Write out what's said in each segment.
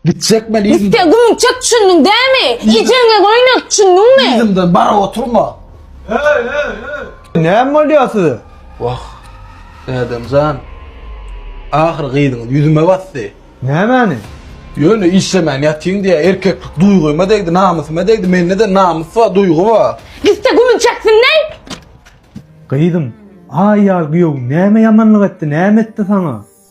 Gitjek men yzymdan. Gitse gümüň çek düşündüň dämi? Ejeňe göýnek düşündüňmi? Yzymdan bara oturma. Näme bolýar size? Wah, Ädem jan. Ahyry gyzyňyz ýüzüme basdy. Nämäni? Ýöne işlemän ýatyň diýýä. Erkeklik duýgyma degdi, namysyma degdi. Mende-de namys bar, duýgy bar. Gitse gümüň çeksin näý? Gyzym, aýal güýewiň näme ýamanlyk etdi, näme etdi saňa?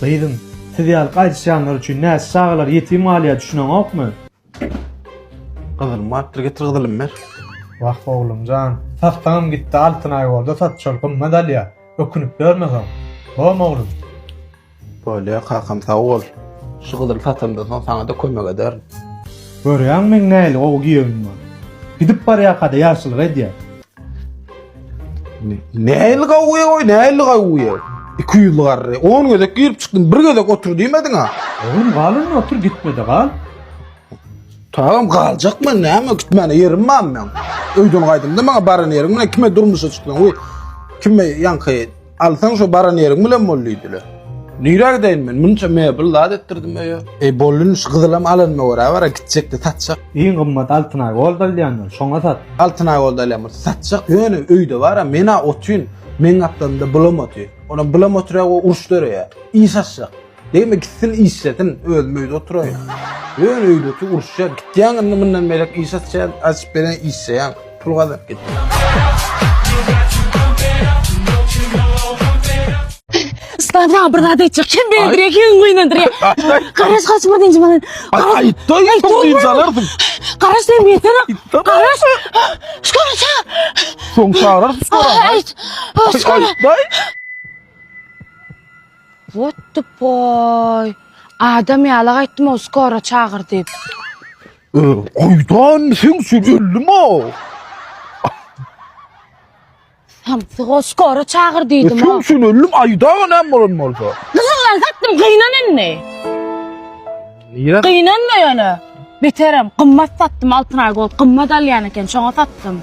Gyzym, siz ýaly gaýdyşýanlar üçin näçe çagalar ýetim galýar düşüneňokmy? Gyzylym barypdyr getir gyzylymy ber. Wah oglum jan, satsaňam gitdi altyn aýbolda sat şol gymmat alýa. Ökünip ýörme soň. Bom oglum. Bolýa kakam sag bol. Şu gyzyly satamdan soň saňada kömek ederin. Görýäňmi meň nähili gowy giýewim bar. Gidip barýarkada ýagşylyk edýär. Näli gawuya goý, näli gawuya. 200 garry. 10 gezek girip çykdym, bir gezek otur diýmediň ha. Oğlum gal önüne otur gitmedi gal. Tamam galjak men näme gitmäne yerim bar men. Öýden gaýdymda maňa baran ýerim bilen kime durmuşa çykdyň? Uy. Kime ýaňky Alsaň şo baran ýeriň bilen bol diýdiler. Nirä gideýin men? Munça mebel zat etdirdim öýe. Eý, bollun şu gyzylam alanyma görä bara gitjekdi, satjak. Iň gymmat Altynay gold alýandyr, şoňa sat. Altynay gold alýan bolsa satjak. Ýöne öýde bara men-ä otyn. Meň gapdalymda bylam otyr. Onam bylam otyr-ä, o uruş döreýär. Iş aşjak. Degme git sil işlesin özüm öýde oturaýyn. Ýöne öýdeki uruşýar gitýäň indi mundan beýläk iş açýan açyp beren işleýäň pul gazanyp git. Ussat maňa bir zat aýtjak. Kim beýdirýär, kim gynandyrýar. Garaş gaç bir diňji bilen. Aýtda ýetim diýip alardyň. Garaş sen beýtsene. Garaş. Şkol ça. Soň çagyrar Aýt. Şkol. Aýtdaý. What the boy? Adam ýaly aýtdym-ow skora çagyr diýip. Gaýdan seň üçin öldim-a. Samsyg-ow skora çagyr diýdim-ow. Seň üçin öldim aýdaga näme bolan bolsa. Gyzyl lan satdym gynan indi. Nirä? Gynanma ýöne. Beterem gymmat satdym Altynaý Gold gymmat alýan eken şoňa satdym.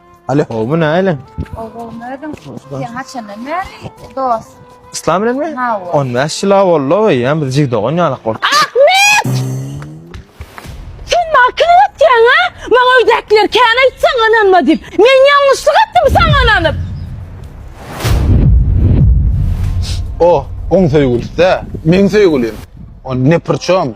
Alo, bu näle? Oğlum özüm sen haçandan beri dost. İslam bilen mi? Ha, o. 15 ýyl boldy we ýa biz jig dogan ýalak bolduk. Ahmet! Sen maňa kim ötýäň ha? Maňa öýdäkiler kän aýtsaň ynanma diýip. Men ýalňyşlyk etdim saňa ynanyp. O, oň söýgülisi-dä, meň söýgülim. O ne pyrçom?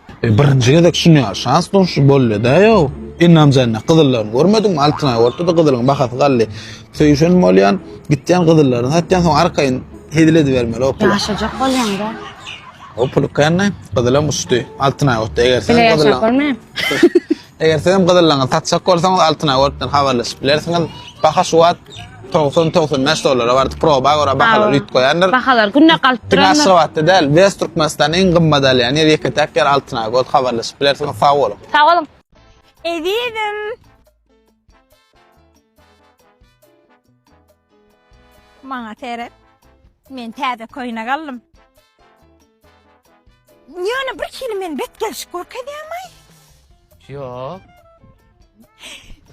E, birinji gezek şunyar şans duşy bolýada ýo. Indi amjanda gyzyllaryny görmedim, altyna ortada gyzylyň bahasy galdy. Söýüşen bolýan, gitýän gyzyllaryny satýan, soň arkaýyn hezil edibermeli o pul. Ýaşajak bolýanda. O pul känne gyzylam uçdy. Altyna ortada eger sen gyzyllaň. Bolmaýar. Eger sizem gyzyllaňyzy satjak bolsaňyz Altyn Awotdan habarlaşyp bilersiňiz. Baha şu wagt togsan, togsan bäş dollara bardy. Proba görä bahalar üýtgip goýandyr. Bahalar günde galyp Diňe durandyr. Aşgabatda däl, West Türkmenistanda iň gymmat alýan ýer, ýeke-täk ýer Altyn Awot. Habarlaşyp bilersiňiz. Sag boluň! Sag boluň! Ezizim. Maňa seret. Men täze köýnek aldym. Ýöne bir hili men bet gelşik görkezýämaý? Ýok.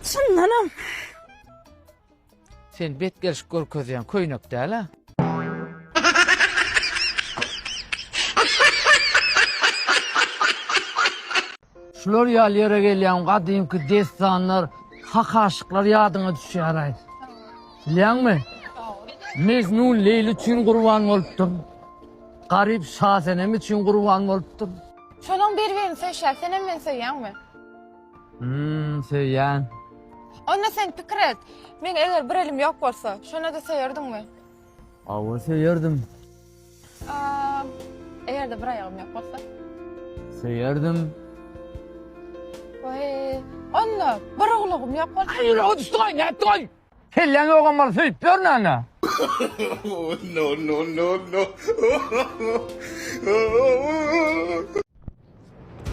Çyndanam. Sen bet gelşik görkezýän köýnek däl-ä. Şular ýaly ýere gelýäňem gadymky dessanlar, hak aşyklar ýadyňa düşýär-aý. Bilýäňmi? Mejnun Leýli üçin gurban bolupdyr. Garyp Şasenem üçin gurban bolupdyr. Şolaryň bir-birini söýşýär. Senem meni söýýäňmi? Hum, söýýän. Onda sen pikir et. Meň eger bir elim ýok bolsa, şonda-da söýerdiňmi? Hawa, söýerdim. Eger-de bir aýagym ýok bolsa. Söýerdim. Oý, onda bir gulagym ýok bolsa. Aý, ýüregi düşdi-oý, nätdi-oý? Kelläň ýogam bolsa söýüp ýörün ana. No, no, no, no.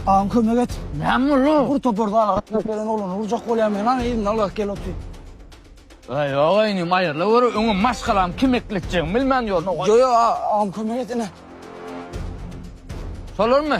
Agam kömek et. Näme boldy? Bur topar zala gatnaşyp gelen oglany urjak bolýarmy? Ýanan elinden alyp gel otur. Aý, ýok inim, aýryla gör, öňem maşgalam kim ekletjegini bilmän ýörün. Ýok, ýok, agam kömek et ine. Şolarmy?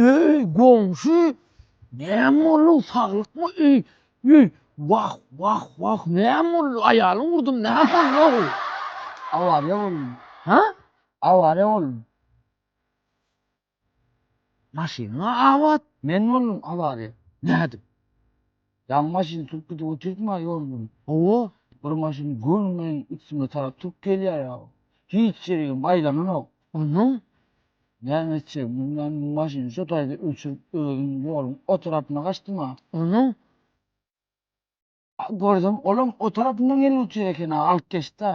Öý goňşy näme boldu saglyk öý öý wah wah wah näme boldu aýalyň urdum näme boldu awariýa boldy ha awariýa boldy maşynyň abat men boldum awariýa nädip Ýaňy maşyn sürüp gidip otyrdyma ýol bilen. Hawa, bir maşyn göni meniň üstüme tarap turup gelýär ýaly. Hiç ýeregem aýlananok. Onsoň näme etjegimi bilmän, maşyny şo taýda öçürip, özüm ýoluň o tarapyna gaçdym-a. Onsoň görsem, olam o tarapyndan gelip otyr eken-a, alyp geçdi-ä.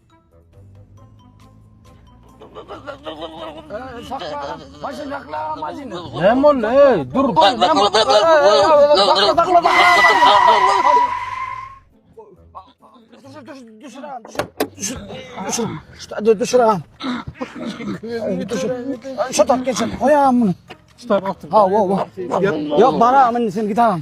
Näme boldy? Eý, dur. Şu tak geçen. Goýam muny. Şu tak. Ha, wo, wo. Ýok, baram indi sen git agam.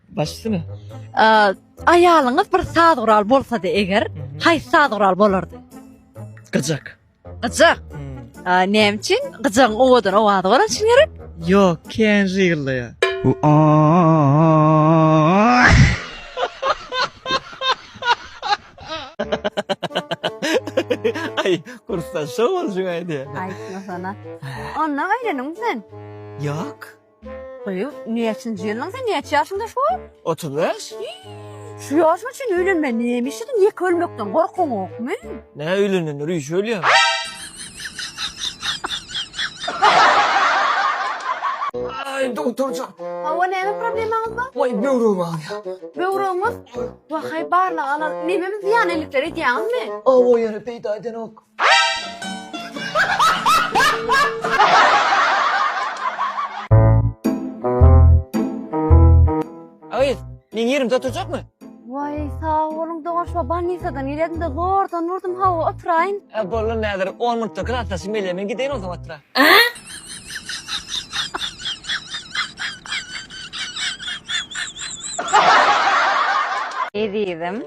Başsymy? Aýalyňyz bir saz gural bolsady eger, haýsy saz gural bolardy? Gyjak. Gyjak. Hmm. Näme üçin? Gyjagyň owadan owazy bolan üçin gerek? Ýok, kän ýygyldaýar. Ay kursdan şov olacak ay diye. Aytmasana. Ondan öğreniň sen. Yok. Goý, näçinji ýylyň sen, näçe ýaşyňda şu? Otuz bäş. Şu ýaşyňa çenli öýlenmän näme işlediň, ýeke ölmekden gorkyňokmy? Nä öýlenenler üýşüp ölýärmi? Aý, dogtor jan. Hawa, näme problemaňyz bar? Waý, böwregim agyrýar. Böwregiňiz? Wahaý, barlag alalyň. Nememi zyýan ellikler edýäňizmi? Awa, ýöne peýda edenok. Agyz, meň ýerimde oturjakmy? Waý, sag boluň, doňaşma bolnisadan gelýädim-de, zordan urdum, hawa, oturaýyn. Hä, boldy, Näzir, on minutda klasdaşym gelýär, men gideýin onsoň otura. Ezizim,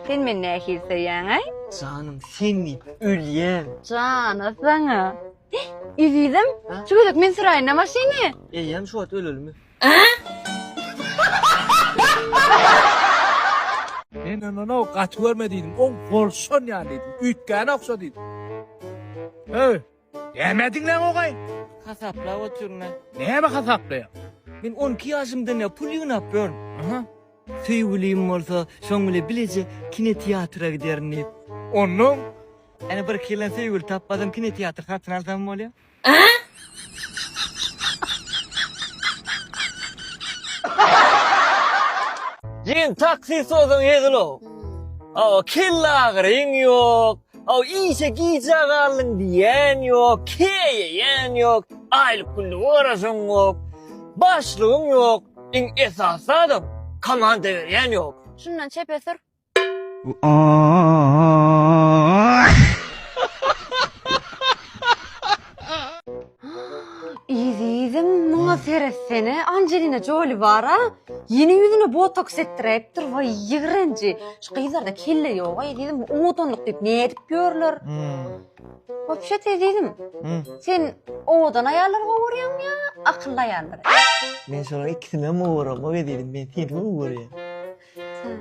sen meni nähili söýýäň-aý? Janym, Seni ölýän. Jana saňa. Ezizim, şu gezek men süräýin-ä maşyny. Eýýäm şu wagt ölelimi? Men ondan-ow gaty görme diýdim, oň bolşan ýaly diýdim, üýtgäne ogşa diýdim. Höý! Näme diňläň ogaý? Hasaplap otyr men. Näme hasaplaýaň? Men on iki ýaşymdan ýa pul ýygnap ýörün. Aha. Söýgülim bolsa, şoň bile bileje kinoteatra giderin diýip. Onnoň? Ene bir iki ýyldan söýgüli tapmasam kinoteatr satyn alsam bolýa. Jigim taksi sozan hezil-ow. Awa kellagyryň ýok. O işe gijä galdyň diýen ýok, keýeýän ýok, aýlyk günlük garaşyň ýok, başlygyň ýok, iň esasy zadam komanda berýän ýok. Şundan çepe sür. Ooo. Ezizim, muňa seretsene, Anjelina Joli bar-a, ýene ýüzüne botoks etdiräýipdir, waý, ýigrenji. Şu gyzlarda kelle ýog-a, ezizim, owadanlyk diýip nädip ýörler. Wapşet, ezizim, sen owadan aýallary gowy görýäňmi ýa akylly aýallary? Men şolaryň ikisindenem gowy göremok, ezizim, men seni gowy görýän. Sen.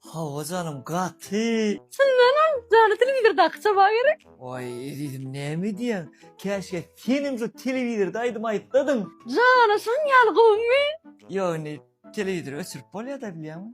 Hawa janym gaty. Çyndanam jany telewizordaky çaba gerek. Oý ezizim näme edýäň käşgä senem şu telewizorda aýdym aýtsadyň. Jana şunuň ýaly gowymy. Ýok indi telewizory öçürip bolýada bilýäňmi.